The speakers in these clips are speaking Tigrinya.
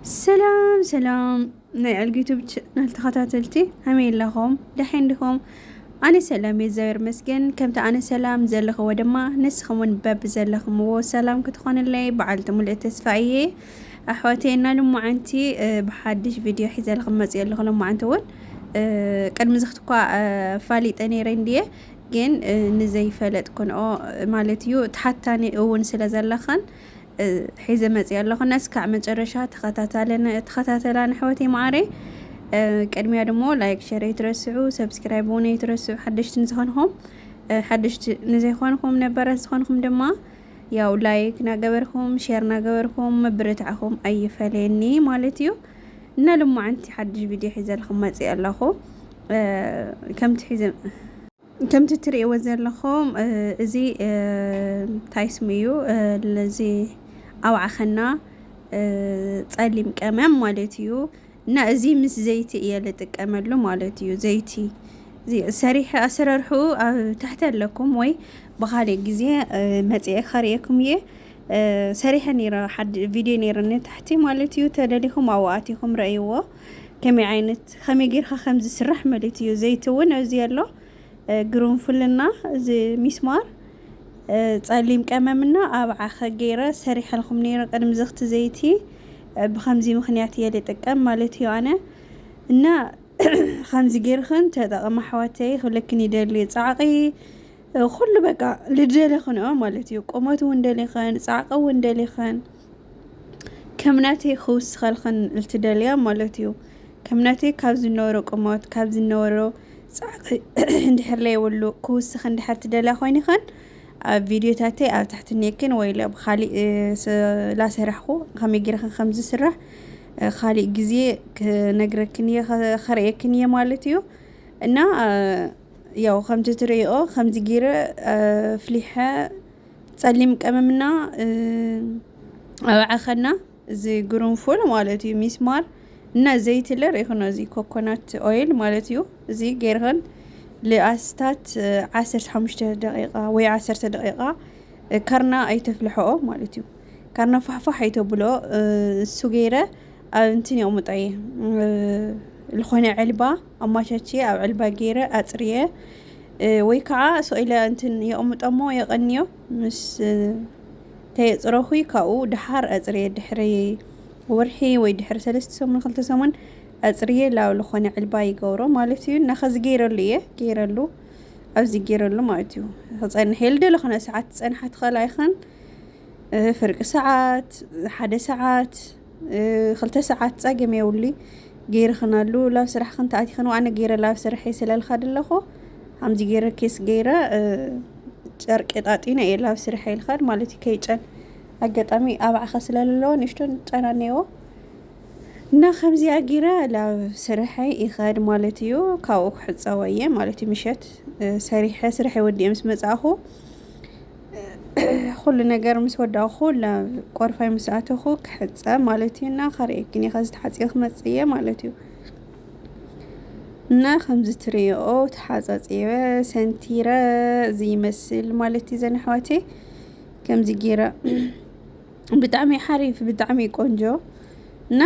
ሰላም ሰላም ናይ ዕልጊ ዩቱብ ቻናል ተኸታተልቲ ከመይ ኣለኹም ደሓን ዲኹም ኣነ ሰላም እየ እግዚኣብሔር ይመስገን ከምቲ ኣነ ሰላም ዘለኽዎ ድማ ንስኹም እውን በቢ ዘለኽምዎ ሰላም ክትኾንለይ በዓልቲ ሙሉእ ተስፋ እየ ኣሕዋተይ እና ልሞዓንቲ ብሓድሽ ቪድዮ ሒዘልኹም መፅኦ ኣለኹ ልሞዓንቲ እውን ቅድሚ እዚ ክትኳ ፋሊጠ ነይረ እንድየ ግን ንዘይፈለጥ ክንኦ ማለት እዩ ተሓታኒ እውን ስለ ዘለኽን ሒዘ መፅየ ኣለኹ ነስካዕ መጨረሻ ተኸታተላን ኣሕዋተይ መዓረይ ቅድሚያ ድሞ ላይክ ሸር ኣይትረስዑ ሰብስክራይብ እውን ኣይትረስዑ ሓደሽቲ ንዝኾንኹም ሓደሽቲ ንዘይኾንኹም ነበራት ዝኾንኹም ድማ ያው ላይክ ናገበርኩም ሸር ናገበርኩም ምብርታዕኹም ኣይፈለየኒ ማለት እዩ እና ልሞዓንቲ ሓድሽ ቪድዮ ሒዘልኹም መፅእ ኣለኹ ከምቲ ሒዘ ከምቲ እትርእይዎ ዘለኹም እዚ እንታይ ስሙ እዩ እዚ ኣውዓኸና ጸሊም ቀመም ማለት እዩ እና እዚ ምስ ዘይቲ እየ ልጥቀመሉ ማለት እዩ ዘይቲ ሰሪሐ ኣሰራርሑ ኣብ ታሕቲ ኣለኩም ወይ ብኻልእ ግዜ መጽኤ ከርእየኩም እየ ሰሪሐ ነይረ ሓድ ቪድዮ ነይሩኒ ታሕቲ ማለት እዩ ተደሊኹም ኣብኡ ኣቲኹም ረእይዎ ከመይ ዓይነት ከመይ ጌርካ ከም ዝስራሕ ማለት እዩ ዘይቲ እውን ኣብዚ ኣሎ ግሩንፍልና እዚ ሚስማር ጸሊም ቀመምና ኣብ ዓኸ ገይረ ሰሪሐልኩም ነይረ ቅድሚ ዝኽቲ ዘይቲ ብከምዚ ምክንያት እየ ልጥቀም ማለት እዩ ኣነ እና ከምዚ ጌርክን ተጠቐማ ኣሕዋተይ ክብለክን ይደሊ ጻዕቒ ኩሉ በቃ ልደለኽንኦ ማለት እዩ ቁመት እውን ደሊኸን ጻዕቒ እውን ደሊኸን ከም ናተይ ክውስኸልክን ልትደልያ ማለት እዩ። ከም ናተይ ካብ ዝነበሮ ቁመት ካብ ዝነበሮ ጻዕቂ እንድሕር ለይብሉ ክውስኽ እንድሕር ትደልያ ኮይንኽን ኣብ ቪድዮታተይ ኣብ ታሕቲ ኔክን ወይ ለ ብኻሊእ ላሰራሕኹ ከመይ ጌርክን ከም ዝስራሕ ኻሊእ ግዜ ክነግረክን እየ ከርእየክን እየ ማለት እዩ እና ያው ከምቲ ትርእይኦ ከምዚ ጌረ ኣፍሊሐ ጸሊም ቀመምና ኣብ ዓኸና እዚ ግሩንፉል ማለት እዩ ሚስማር እና ዘይት ለ ርኢኹኖ እዚ ኮኮናት ኦይል ማለት እዩ እዚ ጌርኸን ልኣስታት ዓሰርተ ሓሙሽተ ደቂቃ ወይ ዓሰርተ ደቂቃ ከርና ኣይተፍልሐኦ ማለት እዩ ከርና ፋሕፋሕ ኣይተብሎ እሱ ገይረ ኣብ እንትን የቕምጦ እየ ዝኾነ ዕልባ ኣማቻችየ ኣብ ዕልባ ገይረ ኣጽርየ ወይ ከዓ ሰው ኢለ እንትን የቕምጦሞ የቐንዮ ምስ ተየፅረኹይ ካብኡ ድሓር ኣፅርየ ድሕሪ ወርሒ ወይ ድሕሪ ሰለስተ ሰሙን ክልተ ሰሙን ኣፅርየ ላብ ዝኾነ ዕልባ ይገብሮ ማለት እዩ እና ከዚ ገይረሉ እየ ገይረሉ ኣብዚ ገይረሉ ማለት እዩ ክፀንሕ የል ደሎ ክነ ሰዓት ፀንሓ ትኸል ኣይኸን ፍርቂ ሰዓት ሓደ ሰዓት ክልተ ሰዓት ጸገም የብሉይ ገይርኽን ኣሉ ላብ ስራሕኽን ተኣቲኽን ዋዕነ ገይረ ላብ ስራሐይ ስለልካ ድለኹ ሃምዚ ገይረ ኬስ ገይረ ጨርቂ ጣጢነ እየ ላብ ስራሐይ ልኻድ ማለት እዩ ከይጨን ኣጋጣሚ ኣብዓኸ ስለለለዎ ንእሽቶን ጨና ነይዎ እና ከምዚኣ ገይረ ላብ ስራሐይ ይኸድ ማለት እዩ ካብኡ ክሕፀወ እየ ማለት እዩ ምሸት ሰሪሐ ስራሐይ ወዲኤ ምስ መጻእኹ ኹሉ ነገር ምስ ወዳእኹ ናብ ቆርፋይ ምስ ኣተኹ ክሕፀብ ማለት እዩ እና ከርእየኪን እየ ከዚ ተሓፂበ ክመፅእ እየ ማለት እዩ እና ከምዚ ትሪኦ ተሓፃፂበ ሰንቲረ እዚ ይመስል ማለት እዩ ዘን ኣሕዋቴ ከምዚ ጌረ ብጣዕሚ ሓሪፍ ብጣዕሚ ቆንጆ እና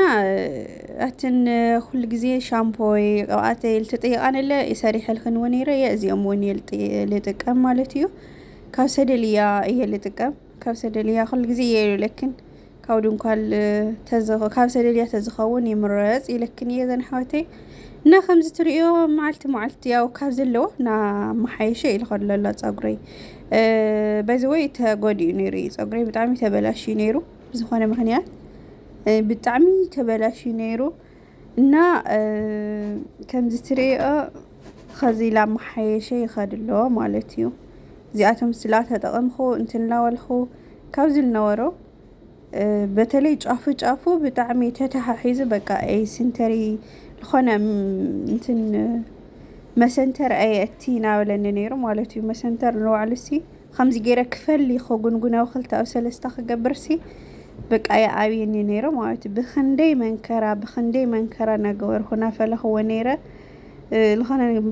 ኣትን ኩሉ ግዜ ሻምፖይ ቅብኣተይ ልትጥይቃንለ ሰሪሐልክን እውን ነይረ እየ እዚኦም እውን እየ ልጥ- ልጥቀም ማለት እዩ ካብ ሰደልያ እየ ልጥቀም ካብ ሰደልያ ኩሉ ግዜ እየ ኢለክን ካብ ድንኳል ካብ ሰደልያ ተዝኸውን ይምረፅ ኢለክን እየ ዘን ኣሕዋተይ እና ከምዚ ትሪእዮ መዓልቲ መዓልቲ ያው ካብ ዘለዎ እናመሓየሸ እዩ ዝኸድ ዘሎ ፀጉረይ በዚ ወይ ተጎዲኡ ነይሩ እዩ ፀጉረይ ብጣዕሚ ተበላሽዩ ነይሩ ብዝኾነ ምኽንያት ብጣዕሚ ተበላሽዩ ነይሩ እና ከምዚ ትሪኦ ኸዚ ኢላ መሓየሸ ይኸድ ኣሎ ማለት እዩ እዚኣቶም ስላ ተጠቐምኹ እንትናወልኹ ካብ ዝነበሮ በተለይ ጫፉ ጫፉ ብጣዕሚ ተተሓሒዙ በቃ ኣይ ስንተሪ ዝኾነ እንትን መሰንተር ኣየእቲ ናበለኒ ነይሩ ማለት እዩ መሰንተር ንባዕሉ ሲ ኸምዚ ገይረ ክፈሊ ኸጉንጉነው ኽልተ ኣብ ሰለስተ ክገብርሲ በቃ ይኣብየኒ ነይረ ማለት እዩ ብኽንደይ መንከራ ብኽንደይ መንከራ እናገበርኩ እናፈለኽዎ ነይረ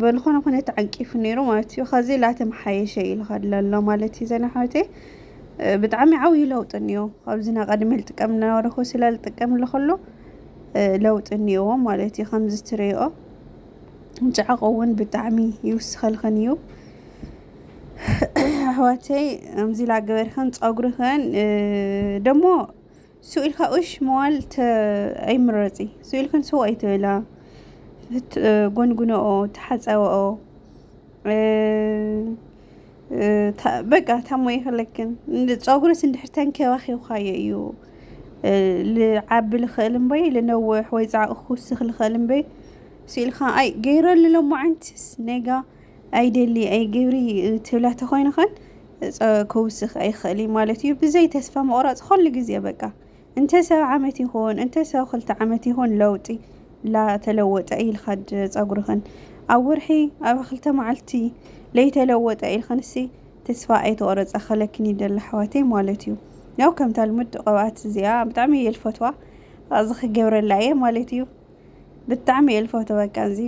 በልኾነ ኩነት ዓንቂፉ ነይሩ ማለት እዩ ኸዚ ላተመሓየሸ እዩ ልኸድ ለሎ ማለት እዩ ዘና ሕወተይ ብጣዕሚ ዓብዪ ለውጢ እኒኦ ካብዚ ና ቀድሚ ልጥቀም እናበረኹ ስለ ልጥቀም ለኸሎ ለውጢ እኒኦዎ ማለት እዩ ከምዚ ትሪኦ ጨዕቕ እውን ብጣዕሚ ይውስኸልኸን እዩ ኣሕዋተይ ኣምዚ ኢላ ገበርክን ፀጉርክን ደሞ ስው ኢልካ ኡሽ ምባል ኣይምረፂ ስው ኢልክን ሰው ኣይትበላ ጎንጉነኦ ተሓፀበኦ በቃ ታሞ ይኽለክን ፀጉርስ እንድሕር ተንከባኺብካዮ እዩ ልዓቢ ልኽእል እምበይ ልነውሕ ወይ ፃዕቒ ክውስኽ ልኽእል እምበይ ስው ኢልካ ኣይ ገይረሉ ሎማዓንትስ ኔጋ ኣይደሊ ኣይግብሪ ትብላ ተኾይንኸን ክውስኽ ኣይኽእል እዩ ማለት እዩ። ብዘይ ተስፋ ምቑራፅ ኹሉ ግዜ በቃ እንተ ሰብ ዓመት ይኹን እንተ ሰብ ክልተ ዓመት ይኹን ለውጢ ላተለወጠ ኢልካ ፀጉርኽን ኣብ ወርሒ ኣብ ክልተ መዓልቲ ለይተለወጠ ኢልክንሲ ተስፋ ኣይተቆረፀ ከለክን ይደሊ ኣሕዋተይ ማለት እዩ ያው ከምታ ልሙድ ቅብኣት እዚኣ ብጣዕሚ እየ ልፈትዋ እዚ ክገብረላ እየ ማለት እዩ ብጣዕሚ እየ ልፈቶ በቃ እዚ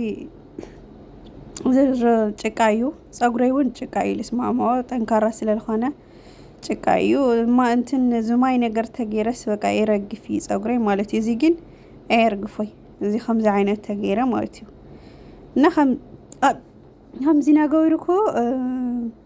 ዝርዝር ጭቃ እዩ ፀጉረይ እውን ጭቃ እዩ ልስማማዎ ጠንካራ ስለልኾነ ጭቃ እዩ ማ እንትን ዝማይ ነገር ተገይረስ በቃ የረግፍ እዩ ፀጉረይ ማለት እዩ እዚ ግን ኣየርግፎይ እዚ ከምዚ ዓይነት ተገይረ ማለት እዩ እና ከም ከምዚ ነገሩ እኮ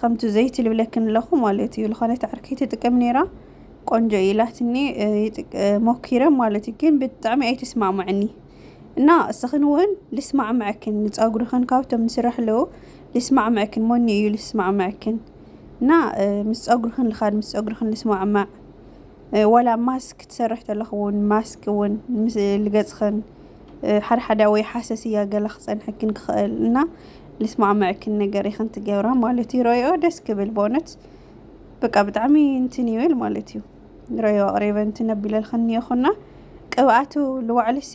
ከምቱ ዘይቲ ልብለክን ኣለኹ ማለት እዩ ዝኾነት ዓርከይ ትጥቀም ነይራ ቆንጆ እዩ ኢላትኒ ሞኪረ ማለት እዩ ግን ብጣዕሚ ኣይተስማዕምዐኒ እና እስኽን እውን ልስማዕምዐክን ንፀጉርኽን ካብቶም ንስራሕ ኣለዉ ልስማዕምዐክን ሞኒ እዩ ልስማዕምዐክን እና ምስ ፀጉርኽን ልኻድ ምስ ፀጉርኽን ልስማዕማዕ ዋላ ማስክ ክትሰርሕ ተለኽ እውን ማስክ እውን ምስ ልገጽኽን ሓደ ሓደ ወይ ሓሰስያ ገለ ክጸንሐክን ክኽእል እና ልስማዕመዐክን ነገር ኢኽን ትገብራ ማለት እዩ ረዮ ደስ ክብል በእውነት በቃ ብጣዕሚ እንትን ይብል ማለት እዩ ረዮ ኣቕሪበ እንትን ኣቢለልኽን እኒኦኹና ቅብኣቱ ልዋዕልሲ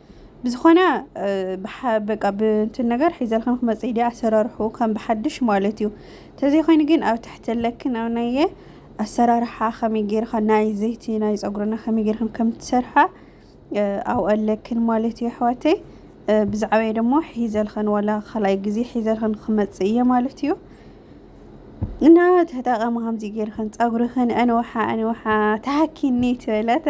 ብዝኾነ በቃ ብእንትን ነገር ሒዘልክን ክመፅእ ድያ ኣሰራርሑ ከም ብሓድሽ ማለት እዩ ተዘይኮይኑ ግን ኣብ ትሕቲ ለክን ኣብ ናየ ኣሰራርሓ ከመይ ጌርካ ናይ ዘይቲ ናይ ፀጉርና ከመይ ጌርክን ከም ትሰርሓ ኣብኡ ኣለክን ማለት እዩ ኣሕዋተይ ብዛዕባ ደሞ ሒዘልክን ዋላ ካልኣይ ግዜ ሒዘልክን ክመፅእ እየ ማለት እዩ እና ተጠቐሚ ከምዚ ጌርክን ፀጉርክን ኣንውሓ ኣንውሓ ተሃኪኒ ትበለታ